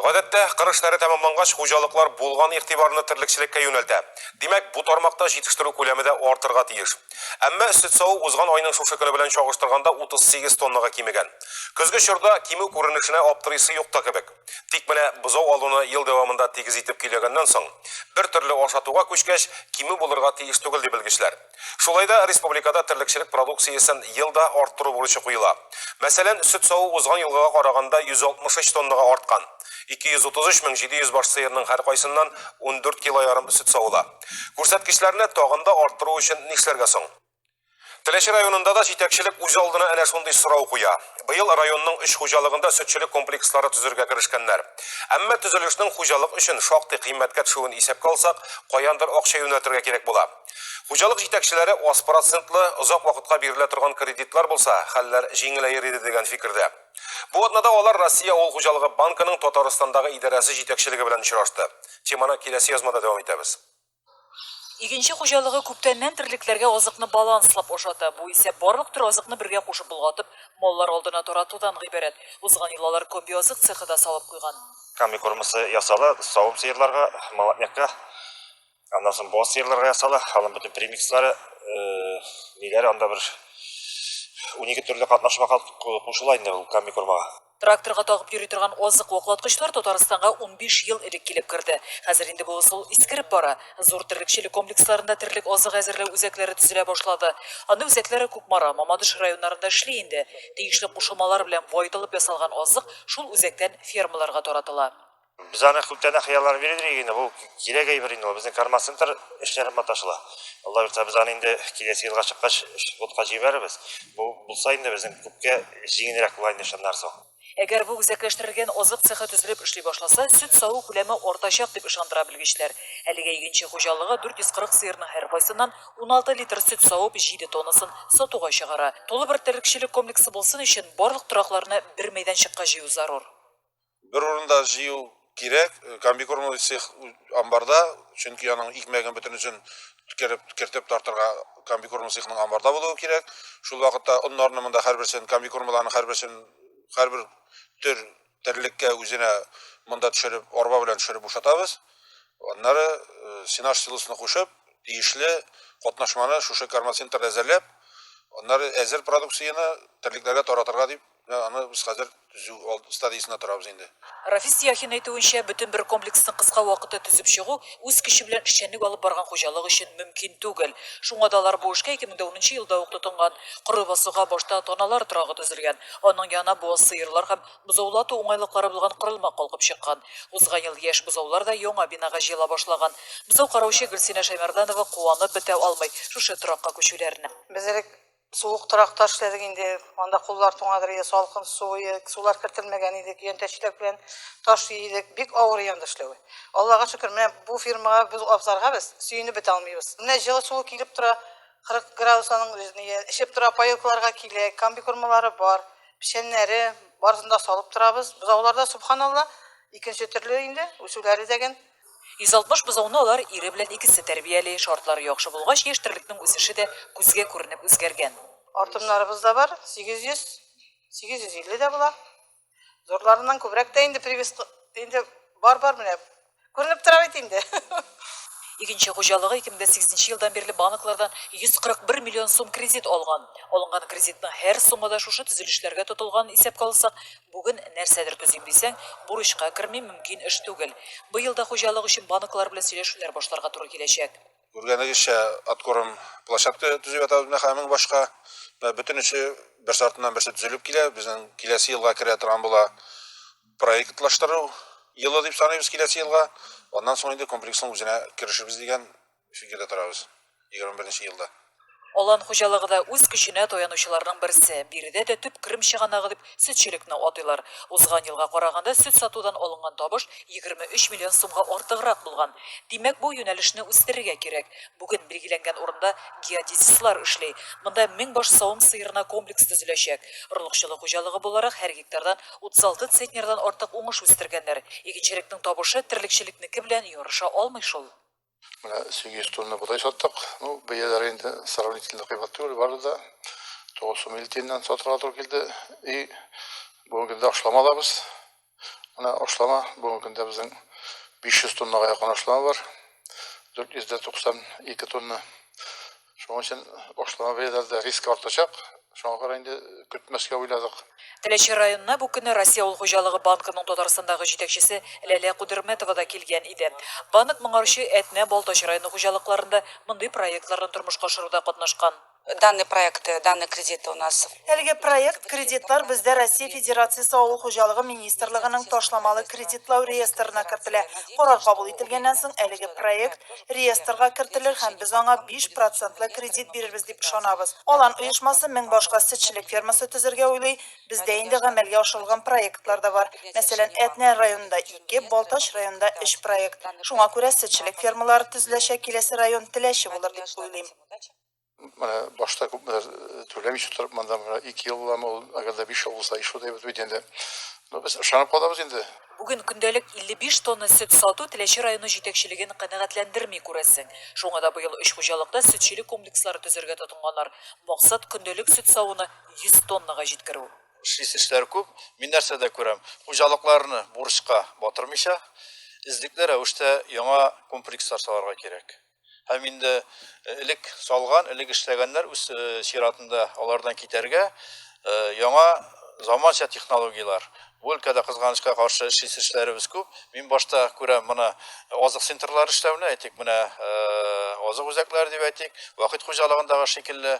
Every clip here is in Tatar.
Гадәттә, кыр эшләре тәмамлангач, хуҗалыклар булган игътибарны терлекчелеккә юнәлтә. Димәк, бу тармакта җитештерү күләме дә артырга тиеш. Әмма сөт саву узган айның шушы көне белән чагыштырганда 38 тоннага кимегән. Көзге чорда кимү күренешенә аптырыйсы юк та кебек. Тик менә бозау алуны ел дәвамында тигез итеп көйләгәннән соң, бер төрле ашатуга күчкәч, кимү булырга тиеш түгел, ди белгечләр. Шулай да республикада терлекчелек продукциясен ел да арттыру бурычы куела. Мәсәлән, сөт саву узган елгыга караганда 163 тоннага арткан. 233 мең 700 баш сыерның һәркайсыннан ундүрт килоярым сөт савыла. Күрсәткечләрне тагын да арттыру өчен нишләргә соң? Теләче районында да җитәкчелек үз алдына әнә шундый сорау куя. Быел районның өч хуҗалыгында сөтчелек комплекслары төзергә керешкәннәр. Әмма төзелешнең хуҗалык өчен шактый кыйммәткә төшүен исәпкә алсак, каяндыр акча юнәлтергә кирәк була. Хуҗалык җитәкчеләре аз процентлы, озак вакытка бирелә торган кредитлар булса, хәлләр җиңеләер иде дигән фикердә. Бу атнада алар Россия авыл хуҗалыгы банкының Татарстандагы идарәсе җитәкчелеге белән очрашты. Теманы киләсе язмада дәвам итәбез. Игенче хуҗалыгы күптәннән терлекләргә азыкны баланслап ашата. Бу исә барлык төр азыкны бергә кушып болгатып, маллар алдына таратудан гыйбарәт. Узган ел алар комбиазык цехы да салып куйган. Комбикормасы ясала, савым сыерларга, молотнякка, аннан соң боз сыерларга ясала. Аның бөтен премикслары, ниләре анда бер унике төрле катнашма кушыла инде ул комбикормага. Тракторга тагып йөри торган азык ваклаткычлар Татарстанга унбиш ел элек килеп керде. Хәзер инде бу ысул искереп бара. Зур терлекчелек комплексларында терлек азыгы әзерләү үзәкләре төзелә башлады. Андый үзәкләр Кукмара, Мамадыш районнарында эшли инде. Тиешле кушылмалар белән баетылып ясалган азык шул үзәктән фермаларга таратыла. Без аны күптән дә хыялланып йөридек инде, бу кирәк әйбер инде ул. Безнең кармацентр эшләре маташыла. Алла бирса, без аны инде киләсе елга чыккач флотка җибәрербез. Бу булса инде безнең күпкә җиңелрәк була инде шуннан соң. Әгәр бу үзәкләштерелгән азык цехы төзелеп эшли башласа, сөт саву күләме артачак, дип ышандыра белгечләр. Әлегә игенче хуҗалыгы 440 сыерның һәркайсыннан 16 литр сөт савып, 7 тоннасын сатуга чыгара. Тулы бер терлекчелек комплексы булсын өчен, барлык торакларны бер мәйданчыкка җыю зарур. Бер урында җыю кирәк, комбикормовый цех амбарда, чөнки аның икмәген бөтенесен кереп кертеп тартырга комбикорм цехның амбарда булуы кирәк. Шул вакытта оннарны монда һәрберсен комбикормларны һәрберсен һәрбер төр терлеккә үзенә монда төшереп, арба белән төшереп бушатабыз. Аннары э, сенаж силосына кушып, тиешле катнашманы шушы кармацентрда әзерләп, аннары әзер продукцияне терлекләргә таратырга дип Менә аны без хәзер төзү алды стадиясендә торабыз инде. Рафис Яхин әйтүенчә, бөтен бер комплексны кыска вакытта төзеп чыгу үз көче белән эшчәнлек алып барган хуҗалык өчен мөмкин түгел. Шуңа да алар бу эшкә 2000 дә унынчы елда ук тотынган. Коры басуга башта таналар торагы төзелгән. Аның янына буаз сыерлар һәм бозаулар ату уңайлыклары булган корылма калкып чыккан. Узган ел яшь бозаулар да яңа бинага җыела башлаган. Бозау караучы Гөлсинә Шәймәрданова куанып бетә алмый шушы торакка күчүләренә. Без элек Суык торакта эшләдек инде. Анда куллар туңадыр иде, салкын су, сулар кертелмәгән иде, көянтәчлек белән таш иедек. Бик авыр янда эшләве. Аллага шөкер, менә бу фирмага без абзарга без сөенеп бетә алмыйбыз. Менә җылы суы килеп тора, 40 градус аның эчеп тора, паёкларга килә, комбикормалары бар, печәннәре, барысын да салып торабыз. Бозауларда, субханалла, икенче төрле инде, үсүләре дәген. 160 бозауны алар ире белән икесе тәрбияли. Шартлары яхшы булгач, яшь терлекнең үсеше дә күзгә күренеп үзгәргән. Артыннарыбыз да бар, 800, 850 дә була. Зурларыннан күбрәк тә инде привез инде бар-бар менә күренеп тора бит инде. Игенче хуҗалыгы 2008 елдан бирле банклардан 141 миллион сум кредит алган. Алынган кредитның һәр сумы да шушы төзелешләргә тотылганын исәпкә алсак, Бүген нәрсәдер төзим дисәң, бурычка керми, мөмкин эш түгел. Быел да хуҗалык өчен банклар белән сөйләшүләр башларга туры киләчәк. Күргәнегезчә, откорм площадка төзеп ятабыз, менә хәзер мең башка. Менә бөтенесе берсе артыннан берсе төзелеп килә. Безнең киләсе елга керә торган була проектлаштыру елы дип саныйбыз киләсе елга. Аннан соң инде комплексның үзенә керешербез дигән Фигердә торабыз. 21 нче елда. Алан хуҗалыгы да үз көченә таянучыларның берсе. Биредә дә төп керем чыганагы дип сөтчелекне атыйлар. Узган елга караганда сөт сатудан алынган табыш 23 миллион сумга артыграк булган. Димәк, бу юнәлешне үстерергә кирәк. Бүген билгеләнгән урында геодезистлар эшли. Монда мең баш савым сыерына комплекс төзеләчәк. Орлыкчылык хуҗалыгы буларак һәр гектардан 36 центнердан артык уңыш үстергәннәр. Игенчелекнең табышы терлекчелекнеке белән ярыша алмый шул. Менә 800 тонна бодай саттык. Ну, бәяләре инде сравнительно кыйбат түгел, бары да 950 тиеннән сатырга туры килде. И бүгенге көндә ашлама алабыз. Менә ашлама бүгенге көндә безнең 500 тоннага якын ашлама бар. 492 тонна Шуның өчен башлама бәяләрдә риск артачак. Шуңа күрә инде көтмәскә уйладык. Теләче районына бу көнне Россия авыл хуҗалыгы банкының Татарстандагы җитәкчесе Ләлә Кудерметова да килгән иде. Банк моңарчы Әтнә, Балтач районы хуҗалыкларында мондый проектларны тормышка ашыруда катнашкан. Данный проекты, данный кредиты у нас Әлеге проект кредитлар бездә Россия Федерациясе Авыл хуҗалыгы министрлыгының ташламалы кредитлау реестрына кертелә. Карар кабул ителгәннән соң, әлеге проект реестрга кертелер һәм без аңа биш процентлы кредит бирербез дип ышанабыз. Алан оешмасы мең башка сөтчелек фермасы төзергә уйлый. Бездә инде гамәлгә ашырылган проектлар да бар. Мәсәлән, Әтнә районында, ике, Балтач районында өч проект. Шуңа күрә сөтчелек фермалары төзеләчәк киләсе район Теләче булыр дип уйлыйм. Менә башта күпләр түләмичә торып монда менә 2 ел буламы ул, әгәр дә 5 ел булса ишү дип бит инде. Ну без ышанып калабыз инде. Бүген көндәлек 55 тонна сөт сату Теләче районы җитәкчелеген канәгатьләндерми, күрәсең. Шуңа да быел өч хуҗалыкта сөтчелек комплекслары төзергә тотынганнар. Максат, көндәлек сөт савуны 100 тоннага җиткерү. Эшлисе эшләр күп. Мин нәрсәдә күрәм, хуҗалыкларны бурычка батырмыйча, эзлекле рәвештә яңа комплекслар салырга кирәк. Һәм инде элек салган, элек эшләгәннәр үз чиратында алардан китәргә, яңа заманча технологияләр. Бу өлкәдә кызганычка каршы эшли эшләребез күп. Мин башта күрәм моны азык центрлары эшләүне, әйтик, менә азык үзәкләре дип әйтик, вакыт хуҗалыгындагы шикелле,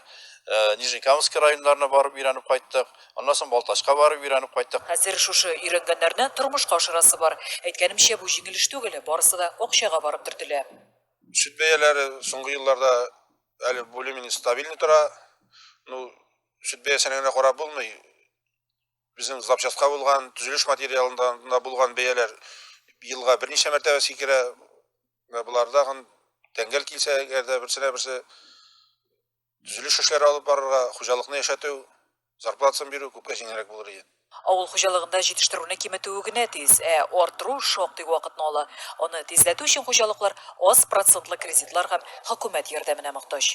Нижнекамск районнарына барып өйрәнеп кайттык, аннан соң Балтачка барып өйрәнеп кайттык. Хәзер шушы өйрәнгәннәрне тормышка ашырасы бар. Әйткәнемчә, бу җиңел эш түгел, барысы да акчага барып төртелә. Сөт бәяләре соңгы елларда әле более-менее стабильный тора. Ну, сөт бәясенә генә карап булмый. Безнең запчастька булган, төзелеш материалында булган бәяләр елга берничә мәртәбә сикерә. Менә буларда гын тәңгәл килсә, әгәр дә берсенә берсе Төзелеш эшләре алып барырга, хуҗалыкны яшәтү, зарплатасын бирү күпкә җиңелрәк булыр иде. Авыл хуҗалыгында җитештерүне киметүе генә тиз, ә арттыру шактый вакытны ала. Аны тизләтү өчен хуҗалыклар аз процентлы кредитлар һәм хөкүмәт ярдәменә мохтаҗ.